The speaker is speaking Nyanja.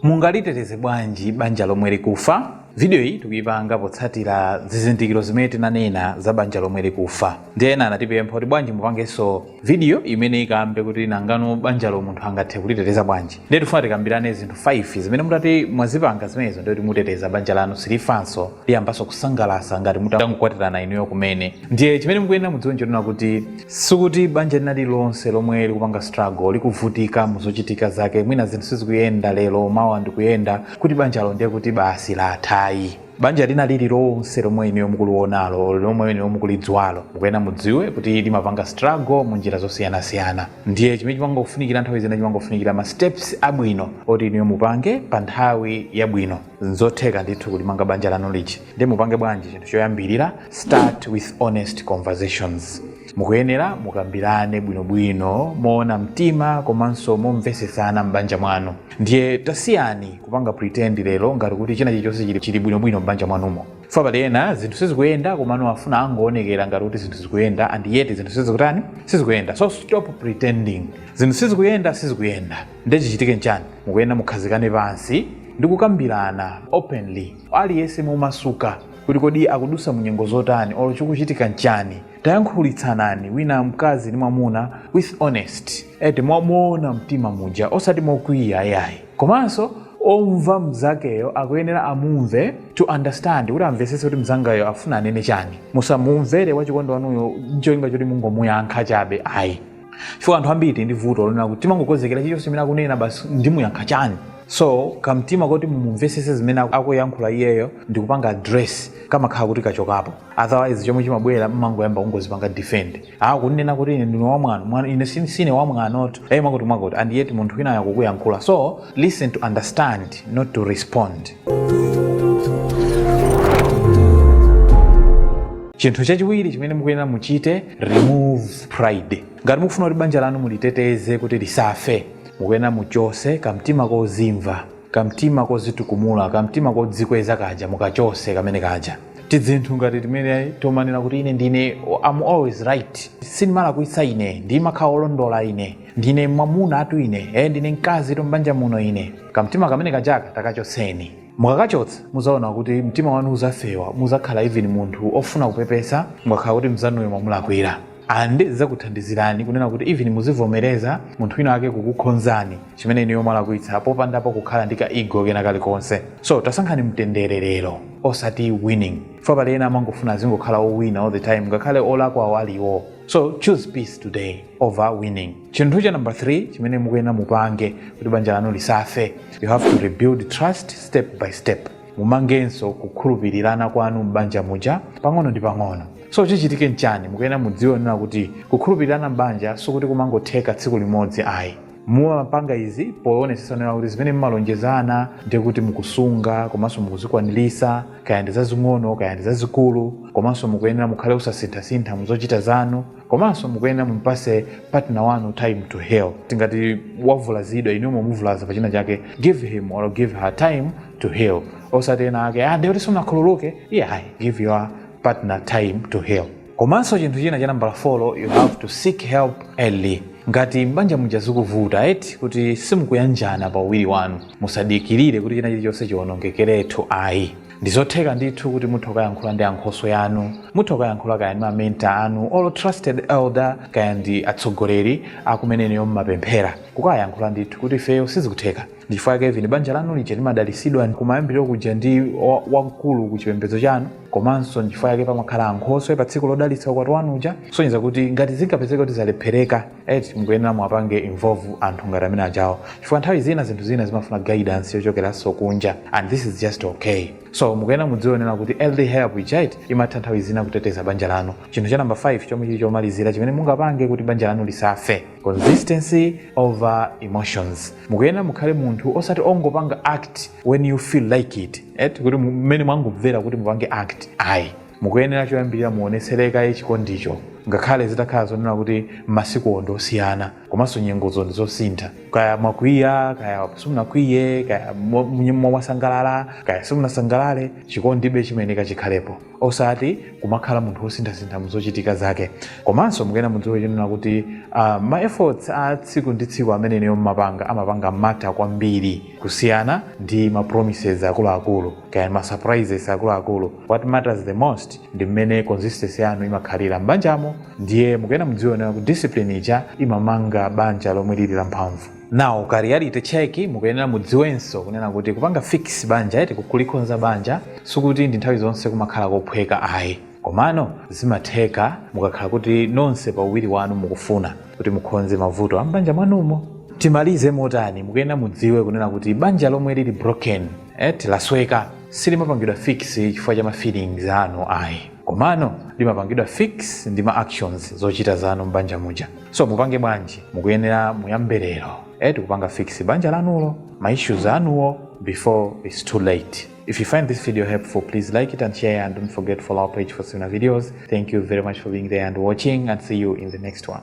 Mungaliteteze bwanji banja lomwe likufa? Vidiyoyi tikuipanga potsatira zizindikiro zimene tinanena za banja lomwe likufa. Ndiye ena anatipempha kuti bwanji mupangenso vidiyo imene ikambe kuti nangano banjalo munthu angathe kuliteteza bwanji. Ndiye tifuna tikambirane zinthu 5 zimene mutati mwazipanga zimenezo ndiye kuti muteteza banja lanu silifanso, liyambanso kusangalasa ngati mutangokwatirana inuyo kumene. ndiye chimene mukuyenera mudziwe nchonena kuti sikuti banja lina lililonse lomwe likupanga struggle likuvutika mu zochitika zake mwina zinthu sizikuyenda lero mawa n'kuyenda kuti banjalo ndiye kuti basi latha ayi banja lina lililonse lomwe inuyo mukuliwonalo lomwe inuyo mukulidziwalo mukuyenera mudziwe kuti limapanga struggle mu njira zosiyanasiyana ndiye chimene chimangofunikira nthawi zina chimangofunikira ma steps abwino oti inuyo mupange pa nthawi yabwino nzotheka ndithu kulimanga banja lanu lija ndiye mupange bwanji chinthu choyambirira start with honest conversations mukuyenera mukambirane bwinobwino moona mtima komanso momvesesana m'banja mwanu ndiye tasiyani kupanga pretend lero ngati kuti china chilichonse chili- chili bwinobwino m'banja mwanumo chifukwa pali ena zinthu sizikuyenda komano afuna angoonekera ngati kuti zinthu zikuyenda and yet zinthu sizikutani sizikuyenda so stop pretending zinthu sizikuyenda sizikuyenda ndiye chichitike nchani mukuyenera mukhazikane pansi ndi kukambirana openly aliyense momasuka kuti kodi akudusa munyengo zotani olo chikuchitika nchani tayankhulitsanani wina mkazi ndi mwamuna with honesty moona mtima muja osati mokwiya ayayi komanso omva mzakeyo akuyenera amumve to understand kuti amvesese kuti mzangayo afuna anene chani musamumvere wachikondi wanuyo ncholinga choti mungomuyankha chabe ayi chifukwa anthu ambiri tili ndi vuto lonena kuti timangokonzekera chilichonse chimene akunena basi ndimuyankha chani so kamtima koti mumumvesese zimene aku- akuyankhula iyeyo ndikupanga address kamakhala kuti kachokapo otherwise chomwe chimabwera mmangoyamba kungozipanga defend ah kuninena kuti ine ndine wamwano mwana ine sine, sine wamwanotu ayi mwakuti mwakuti and yet munthu wina akukuyankhula so listen to understand not to respond chinthu chachiwiri chimene mukuyenera muchite remove pride ngati mukufuna kuti banja lanu muliteteze kuti lisafe mukuyenera muchose kamtima kozimva kamtima kozitukumula kamtima kodzikweza kaja mukachose kamene kaja tidzinthu ngati timene tomanena kuti ine ndine am always right sindimalakwitsa ine ndimakhala olondola ine ndine mwamunatu ine e ndine mkazitu m'banja muno ine kamtima kamene kajaka takachoseni mukakachotsa muzaona kuti mtima wanu uzafewa muzakhala even munthu ofuna kupepesa mukakhala kuti mzanuyo mwamulakwira and zizakuthandizirani kunena kuti even muzivomereza munthu wina ake kukukhonzani chimene inuyo mwalakwitsa popandapo kukhala ndi ka ego kena kalikonse so tasankhani mtendere lero osati winning chifukwa pali ena amangofuna azingokhala owina all the time ngakhale olakwawo ali iwo so choose peace today over winning chinthu cha number 3 chimene mukuyenera mupange kuti banja lanu lisafe you have to rebuild trust step by step mumangenso kukhulupirirana kwanu m'banja muja pang'ono ndi pang'ono so chichitike nchani mukuyenera mudziwe kunena kuti kukhulupirirana m'banja sikuti kumangotheka tsiku limodzi ayi mumapanga izi poonetsetsa kunena kuti zimene mumalonjezana ndi kuti mukusunga komanso mukuzikwanirisa kaya ndi zazing'ono kaya ndi zazikulu komanso mukuyenera mukhale osasinthasintha muzochita zanu komanso mukuyenera mumpase partner wanu time to heal tingati wavulazidwa inu mumuvulaza pa china chake give him or give her time to heal osati ena ake ah ndiye kuti simunakhululuke yeah give your partner time to heal komanso chinthu china cha nambala 4 you have to seek help early ngati mbanja muja zikuvuta eti kuti simukuyanjana pa uwiri wanu musadikirire kuti china chilichonse chiwonongekeretu ayi Ndizotheka ndithu kuti mutha kukayankhula ndi ankhoswe anu, mutha kukayankhula kaya ndi ma mentor anu or trusted elder kaya ndi atsogoleri a kumene inuyo mumapemphera, kukayankhula ndithu kuti ifeyo sizikutheka. Ndichifukwa chake even banja lanu lija limadalisidwa kumayambiliro kuja ndi wamkulu ku chipembedzo chanu komanso ndichifukwa chake pamakhala ankhoswe patsiku lodalitsa ukwati wanu uja kusonyeza kuti ngati zingapezeke kuti zalephereka, eti mukuyenera muwapange involve anthu ngati amene ajawo chifukwa nthawi zina zinthu zina zimafuna guidance yochokeranso kunja and this is just okay so mukuyenera mudziwe kunena kuti early help ija imatha nthawi zina kuteteza banja lanu chinthu cha namba 5 chomwe chili chomalizira chimene mungapange kuti banja lanu lisafe consistency over emotions mukuyenera mukhale munthu osati ongopanga act when you feel like it eti kuti mmene mwangomvera kuti mupange act ayi Mukuyenera choyambirira muonetserebe chikondicho ngakhale zitakhala zoona kuti masikuwo ndi osiyana komanso nyengozo ndi zosintha. Kaya mwakwiya, kaya simunakwiye, kaya mwasangalala, kaya simunasangalale, chikondibe chimayeneka chikhalepo osati kumakhala munthu wosinthasintha mu zochitika zake. Komanso mukuyenera mudziwe kunena kuti ma efforts a tsiku ndi tsiku amene inuyo mumapanga amapanga matter kwambiri kusiyana ndi ma promises akuluakulu kaya ma surprises akuluakulu. What matters the most ndi mmene consistency yanu imakhalira m'banjamo ndiye mukuyena mudziwe kunena kuti discipline ija imamanga banja lomwe lili la mphamvu now ka reality check mukuyenera mudziwenso kunena kuti kupanga fix banja eti kulikhonza banja sikuti ndi nthawi zonse kumakhala kophweka ayi komano zimatheka mukakhala kuti nonse pa uwiri wanu mukufuna kuti mukhonze mavuto a m'banja mwanumo timalize motani mukuyenera mudziwe kunena kuti banja lomwe lili broken eti lasweka silimapangidwa fix chifukwa cha ma feelings anu ayi komano limapangidwa fix ndi ma actions zochita zanu m'banja muja so mupange bwanji mukuyenera muyambe lero eti kupanga fix banja lanulo ma issues anuwo before it's too late if you find this video helpful please like it and share and don't forget to follow our page for similar videos thank you very much for being there and watching and see you in the next one